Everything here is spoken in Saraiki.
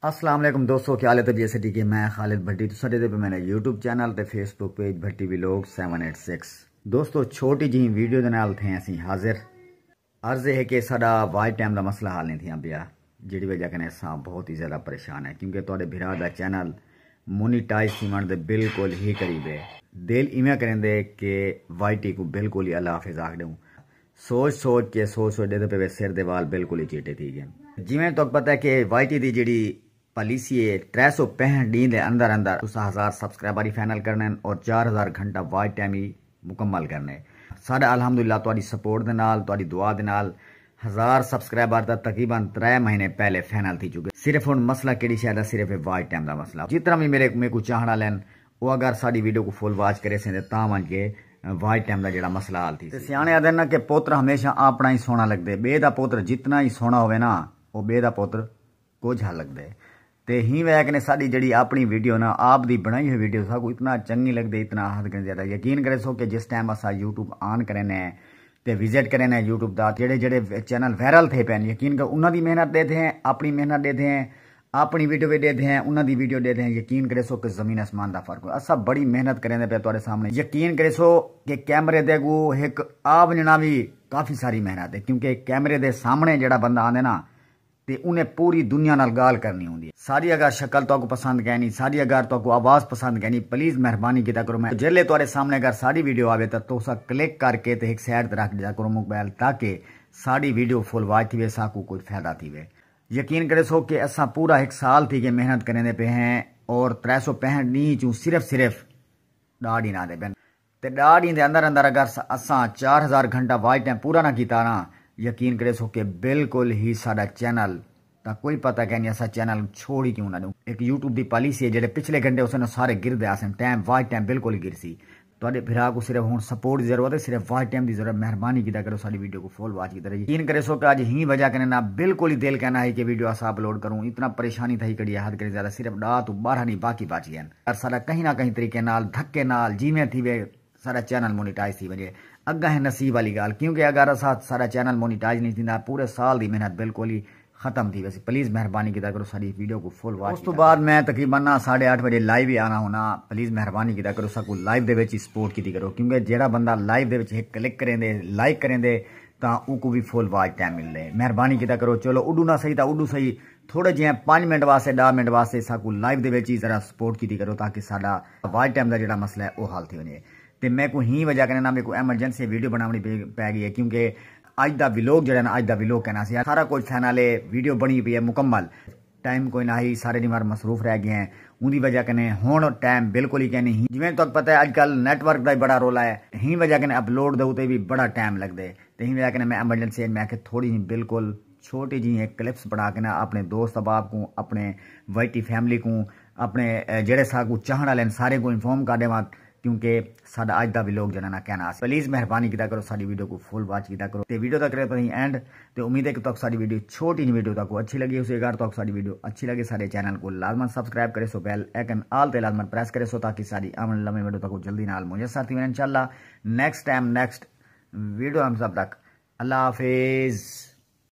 السلام علیکم دوستو کیا حال ہے طبیعت سٹی کے میں خالد بھٹی تو سٹے دے پہ میں نے یوٹیوب چینل تے Facebook page Bhatti vlog seven eight six دوستو چھوٹی جی ویڈیو دے نال تھے اسی حاضر عرض ہے کہ ساڈا وائی ٹائم دا مسئلہ حال نہیں تھیا پیا جڑی وجہ کنے سا بہت ہی زیادہ پریشان ہے کیونکہ تواڈے بھرا دا چینل مونیٹائز تھیون دے بالکل ہی قریب ہے دل ایویں کریں دے کہ وائی ٹی کو بالکل ہی اللہ حافظ آکھ دوں سوچ سوچ کے سوچ سوچ ݙیدھے پئے وے سر دے وال بالکل ای چیٹے تھی گئن۔ جیویں تہاکوں پتہ ہے کہ وائی ٹی دی جیڑھی پالیسی ہے ترے سو پینہٹھ ݙینھ دے اندر اندر تساں ہزار سبسکرائبر ای فائنل کرݨے ہن اور چار ہزار گھنٹہ واچ ٹائم ای مکمل کرݨے ہے۔ ساݙا الحمد للہ تہاݙی سپورٹ دے نال تہاݙی دعا دے نال ہزار سبسکرائبر تاں تقریبا ترے مہینے پہلے فائنل تھی چکے صرف ہݨ مسئلہ کیڑھی شے دا صرف ہے واچ ٹائم دا مسئلہ جتنا وی میرے میکوں چاہݨ آلے ہن او اگر ساݙی ویڈیو کوں فل واچ کریسیں تاں تاں ونڄ کے واچ ٹائم دا جیڑھا مسئلہ حل تھیسی۔ تے سیاݨے آہدن نا کہ پوتر ہمیشہ آپݨا ای سوہݨا لڳدے ٻئے دا پوتر جتنا ای سوہݨا ہووے نا او ٻئے دا پوتر کجھ ہا لڳدے تے ہی وے کنے ساݙی جیڑھی آپݨی ویڈیو نا آپ دی بݨائی ہوئی ویڈیو ساکوں اتنا چنڳی لڳدے اتنا حد کنے زیادہ یقین کریسو کہ جس ٹائم اساں یوٹیوب آن کرینے تے وزٹ کرینے یوٹیوب دا جیڑھے جیڑھے چینل وائرل تھئے پئن یقین کرو انہاں دی محنت ݙیدھے ہیں آپݨی محنت ݙیدھے ہیں آپنی ویڈیو وی ڈیدھے ہیں انہاں دی ویڈیو ڈیدھے ہیں یقین کریسو کہ زمین اسمان دا فرق ہوئے اساں بڑی محنت کریندے پئے تہاڈے سامنے یقین کریسو کہ کیمرے دے اگو ہک آ ونجنا وی کافی ساری محنت ہے کیونکہ کیمرے دے سامنے جیڑا بندہ آندے نا تے انہیں پوری دنیا نال گال کرنی ہوندی ہے ساڈی اگر شکل تہاکوں پسند کینی ساڈی اگر تہاکوں آواز پسند کینی پلیز مہربانی کیتا کرو میں جیلے تہاڈے سامنے اگر ساڈی ویڈیو آوے تاں تساں کلک کر کے تے ہک سائیڈ تے رکھ ڈیتا کرو موبائل تاکہ ساڈی ویڈیو فل واچ تھیوے ساکوں کچھ فائدہ تھیوے یقین کریسو کہ اساں پورا ہک سال تھی ڳئے محنت کریندے پئے ہیں اور ترے سو پینہٹھ ݙینہہ چوں صرف صرف ݙاہ ݙینہہ آندے پن تے ݙاہ ݙینہہ دے اندر اندر اگر اساں چار ہزار گھنٹہ واچ ٹائم پورا نہ کیتا نا یقین کریسو کہ بالکل ہی ساݙا چینل دا کوئی پتہ کینی اساں چینل چھوڑ ہی کیوں نہ ݙیوں ہک یوٹیوب دی پالیسی ہے جیڑھے پچھلے گھنٹے ہوسن او سارے گردے آسن ٹائم واچ ٹائم بالکل ہی گرسی تہاڈے بھرا کوں صرف ہن سپورٹ دی ضرورت ہے صرف واچ ٹائم دی ضرورت مہربانی کیتا کرو ساڈی ویڈیو کوں فل واچ کیتا یقین کریسو کہ اج ہی وجہ کنے نہ بالکل ہی دل کہنا ہئی کہ ویڈیو اسا اپلوڈ کروں اتنا پریشانی تھئی کڈیے حد کنے زیادہ صرف ڈاہ توں بارہ نی باقی بچ گئین اگر ساڈا کہیں نہ کہیں طریقے نال دھکے نال جیویں تھیوے ساڈا چینل مونیٹائز تھی ونجے اگاں ہے نصیب والی گال کیونکہ اگر اسا ساڈا چینل مونیٹائز نی تھیندا پورے سال دی محنت بالکل ہی ختم تھی ویسی پلیز مہربانی کیتا کرو ساری ویڈیو کو فل واچ اس تو بعد میں تقریبا نا ساڑھے آٹھ بجے لائیو ہی آنا ہونا پلیز مہربانی کیتا کرو سکو لائیو دے وچ ہی سپورٹ کیتی کرو کیونکہ جیڑا بندہ لائیو دے وچ ایک کلک کریں دے لائک کریں دے تاں او کو بھی فل واچ ٹائم مل دے مہربانی کیتا کرو چلو اڈو نہ صحیح تا اڈو صحیح تھوڑے جے پانچ منٹ واسطے ڈا منٹ واسطے سکو لائیو دے وچ ہی ذرا سپورٹ کیتی کرو تاکہ ساڈا واچ ٹائم دا جیڑا مسئلہ ہے او حل تھی ونجے تے میں کو ہی وجہ کریں نا میں کو ایمرجنسی ویڈیو بناونی پے گئی ہے کیونکہ اج دا ویلوگ جیڑا نا اج دا ویلوگ کہنا سی سارا کچھ تھے نالے ویڈیو بنی پی ہے مکمل ٹائم کوئی نہ ہی سارے نیوار مصروف رہ گئے ہیں اوندی وجہ کنے ہن ٹائم بالکل ہی کینی ہی جویں تہاکوں پتہ ہے اج کل نیٹ ورک دا ہی بڑا رولا ہے ہی وجہ کنے اپلوڈ دے اتے وی بڑا ٹائم لگ دے تے ہی وجہ کنے میں ایمرجنسی اچ میں آکھیا تھوڑی ہی بالکل چھوٹی جی ہک کلپس بنا کے نا اپنے دوست احباب کوں اپنے وائٹی فیملی کوں اپنے جیڑے ساکوں چاہن آلے ہن سارے کوں انفارم کر ڈیواں کیونکہ ساڈا اج دا ویلوگ جنہاں نہ کہنا آسی پلیز مہربانی کیتا کرو ساڈی ویڈیو کو فل واچ کیتا کرو تے ویڈیو دا کرے پتیں اینڈ تے امید ہے کہ تہاکوں ساڈی ویڈیو چھوٹی جی ویڈیو تہاکوں اچھی لگی ہوسی اگر تہاکوں ساڈی ویڈیو اچھی لگے ساڈے چینل کو لازمن سبسکرائب کرے سو بیل ایکن آل تے لازمن پریس کرے سو تاکہ ساڈی آون والی لمے ویڈیو تہاکوں جلدی نال میسر تھی ونجن انشاءاللہ نیکسٹ ٹائم نیکسٹ ویڈیو ہم سب تک اللہ حافظ